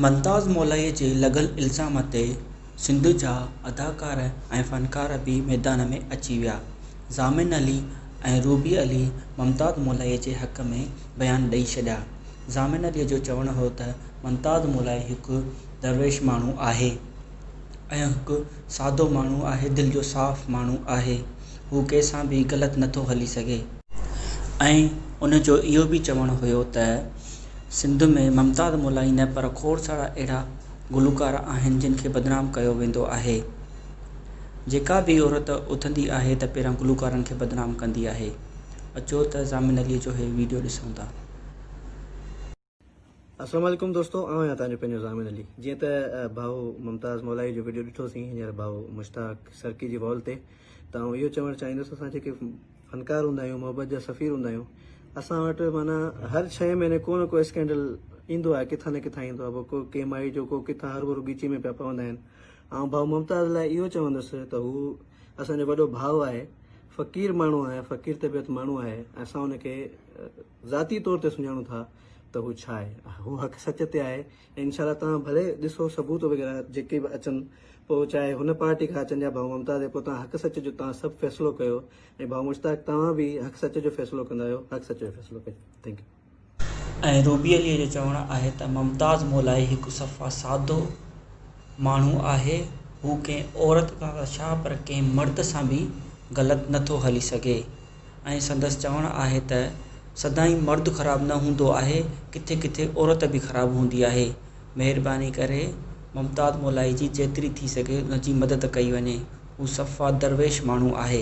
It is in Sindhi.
ممتاز مولائي جي لڳل الزام تي سنڌ جا اداڪار ۽ فنڪار به ميدان ۾ اچي ويا ضامن علي ۽ روبي علي ممتاز مولائي جي حق ۾ بيان ڏئي ڇڏيا ضامن علي جو چوڻ هو ته ممتاز مولائي هڪ درويش ماڻهو آهي ۽ هڪ سادو ماڻهو آهي دل جو صاف ماڻهو آهي هو ڪنهن سان به غلط نٿو هلي سگهي ۽ ان جو اهو به چوڻ هيو ته سنڌ ۾ ممتاز مولائي نه پر کوڙ سارا اهڙا گلوڪار آهن جن کي بدنام ڪيو ويندو آهي جيڪا به عورت اٿندي آهي ته پهريان گلوڪارن کي بدنام ڪندي آهي اچو ته ضامن علي جو هي وڊيو ڏسون ٿا. السلام عليڪم دوستو آئون آهيان تنهنجو پنهنجو ضامن علي جيئن ته ڀائو ممتاز مولائي جو ويڊيو ڏٺو سين هينئر ڀائو مشتاق سرڪي جي وال تي ته آئون اهو چوڻ چاهيندس اسان جيڪي فنڪار هوندا آهيون محبت جا سفير هوندا آهيون اسان وٽ معنيٰ هر ڇهين مهيني ڪو نه ڪو اسڪينڊل ايندو آهي ڪٿان نه ڪٿان ايندو آهي ڪو ڪي مائي جو ڪو ڪٿان هر ڀرو ڳيچي ۾ پيا پوندا آهن آئون ڀائو ممتاز لاء اهو چوندس ته هو اسان جو وڏو ڀاء آهي فقير ماڻهو آهي فقير طبيعت ماڻهو آهي اسان ان کي ذاتي طور تي سڃاڻو ٿا ته هو ڇا آهي هو حق سچ تي آهي ۽ انشاء الله توهان ڀلي ڏسو ثبوت وغيره جيڪي به اچن پوء چاهي هن پارٽي کان اچن يا ڀائو ممتاز پوء توهان حق سچ جو توهان سڀ فيصلو ڪيو ۽ ڀائو مشتاق توهان به حق سچ جو فيصلو ڪندا آهيو حق سچ جو فيصلو ڪجو ٿينڪ يو. ۽ روبي عليء جو چوڻ آهي ته ممتاز مولائي هڪ صفا سادو ماڻهو آهي هو ڪنهن عورت سان ته ڇا پر ڪنهن مرد سان به غلط نٿو هلي سگهي. ۽ سندس چوڻ آهي ته سدائين مرد خراب نه هوندو آهي ڪٿي ڪٿي عورت به خراب هوندي آهي مهرباني ڪري ممتاز مولائي جي جيتري ٿي سگهي ان جي مدد ڪئي وڃي هو صفا درويش ماڻهو آهي.